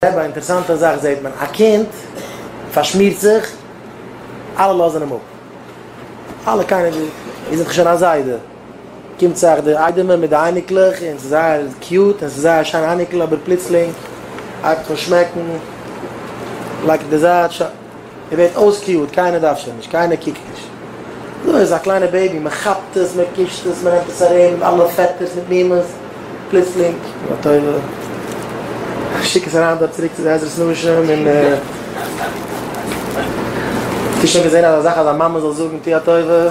אויב א אינטערסאנטע זאך זעהט מען, א קינד פארשמירט זיך, אלע לאזן אים אפ, אלע קיינער וויל, איר זענט דאך שוין א זיידע, קומט זיך די איידעמער מיט די אייניקלעך און ס'איז זייער קיוט און ס'איז זייער שיין אייניקל אבער פלוצלינג הייבט אן שמעקן, לייגט אינדערזייט, ער ווערט אויסקיועט, קיינער דארף שוין נישט, קיינער קוקט נישט. אזוי איז א קליינע בעיבי, מען כאפט עס, מען קישט עס, מען נעמט עס ארום אלע פעטערס מיט מומעס, פלוצלינג, יא טויבע, איך שיק עס אריין דארט צוריק צו די עזרת נשים און האסט שוין געזען אזא זאך אז א מאמע זאל זאגן טו א טובה?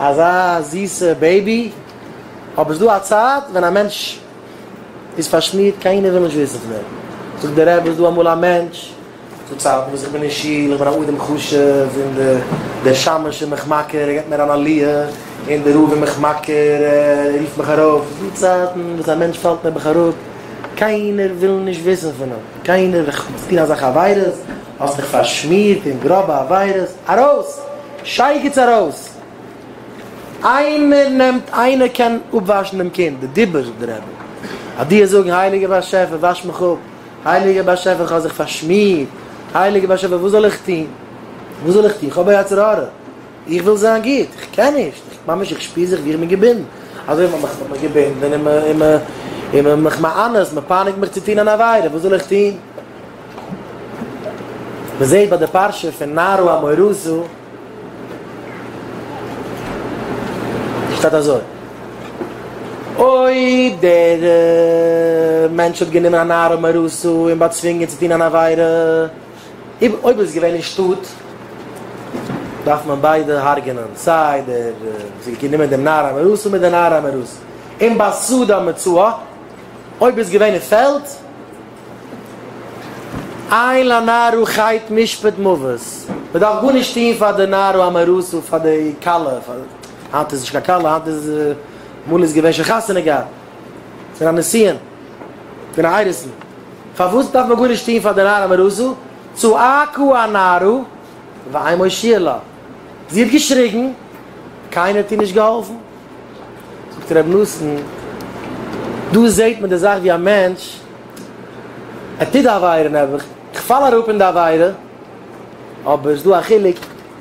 אזא זיסע בעיבי, אבער ס'דא א צייט ווען א מענטש איז פארשמירט, קיינער וויל נישט וויסן פון אים. זאגט דער רבי, ס'דא אמאל א מענטש, ס'דא צייטן וואס איך בין אין שול, איך בין א אדם חשוב, און דער שמש איז מיך מכיר, ער געבט מיר אן עליה, און דער רב איז מיך מכיר, ער רופט מיך ארויף, ס'דא צייטן וואס א מענטש פאלט נעבעך אראפ, קיינער וויל נישט וויסן פון אים, קיינער, איך טוה אזא חברות. האסט דיך פארשמירט אין גראבע עבירות, ארויס! שייגעץ ארויס! איינער נעמט איינער קען אפוואשן דעם קינד, די דיבור די רעדן, אז די וועסט זאגן הייליגער באשעפער וואש מיך אפ, הייליגער באשעפער איך האב זיך פארשמירט, הייליגער באשעפער וואס זאל איך טון, וואס זאל איך טון, איך האב א יצר הרע, איך וויל זיין גוט, איך קען נישט, איך ממש איך שפיר זיך ווי איך בין געבינדן, אזוי ווי מען האט מיך געבינדן און מען האט מיך מע'אנסת, מען פייניגט מיך צו טון אן עבירה, וואס זאל איך טון? מען זעט ביי די פרשה פון נרו המורוזו שטייט אזוי, אויב דער מענטש האט גענומען א נרו המורוזו און באצווינגען צו טון אן עבירה, אויב איז עס געווען אין שטאט, דארף מען ביידע הרג'ענען, סיי דער וואס האט גענומען דעם נרו המורוזו מיט די נרו המורוזו, און ביי סעודה מצוה, אויב איז עס געווען אין פעלד, איי לנערו חייט משפט מוות, מען דארף גארנישט טון פאר די נערו אמעראסו פאר די כלה, היינט איז נישט קיין כלה היינט איז אמאל איז געווען שוין חתונה געהאט פון א נסיון פון א איידעסן, פארוואס דארף מען גארנישט טון פאר די נער אמעראסו, צעאקו הנערו ואין מושיע לה, זי האט געשריגן קיינער האט איר נישט געהאלפן. זאגט ר' נתן, דא זעהט מען די זאך ווי א מענטש, ער טוט די עבירה נעבעך, איך פאל אראפ אין די עבירה, אבער ס'דא א חילוק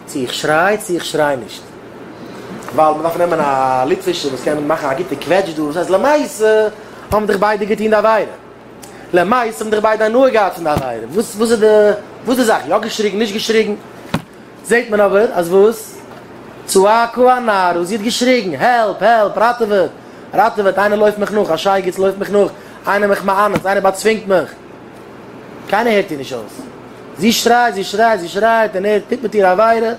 צו איך שריי צו איך שריי נישט, ווייל מ'דארף נעמען א ליטווישע וואס קען מאכן א גוטע קוועטש דא, דאס הייסט למעשה האבן דיך ביידע געטוהן די עבירה, למעשה האבן דיך ביידע הנאה געהאט פון די עבירה, וואס איז די זאך, יא געשריגן נישט געשריגן. זעהט מען אבער אז וואס? צאה כ א נער און זי האט געשריגן, העלפ! העלפ! ראטעוועט! ראטעוועט! איינער לויפט מיך נאך! א שייגעץ לויפט מיך נאך! איינער מיך מאנס! איינער באצווינגט מיך! קיינער הערט איר נישט אויס! זי שרייט! זי שרייט! זי שרייט! און ער טוט מיט איר עבירה!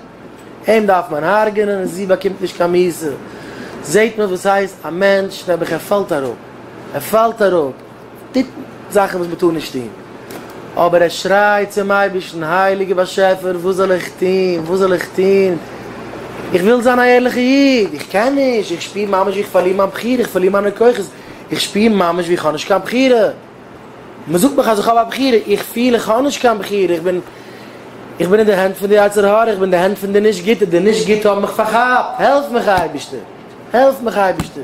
אים דארף מען הרג'ענען! און זי באקומט נישט קיין מיתה! זעהט מען וואס הייסט א מענטש נעבעך! ער פאלט אראפ! ער פאלט אראפ! טוט זאכן וואס מען טאר נישט טון, אבער ער שרייט צום אייבערשטן, הייליגער באשעפער, וואס זאל איך טון, וואס זאל איך טון, איך וויל זיין א ערליכער איד, איך קען נישט, איך שפיר ממש ווי איך פארליר מיין בחירה, איך פארליר מיינע כוחות, איך שפיר ממש ווי איך האב נישט קיין בחירה, מען זאגט מיך אז איך האב א בחירה, איך פיל איך האב נישט קיין בחירה, איך בין איך בין אין די הענט פון די יצר הרע, איך בין אין די הענט פון די נישט גוטע, די נישט גוטע האבן מיך פארכאפט, העלף מיך אייבערשטער, העלף מיך אייבערשטער.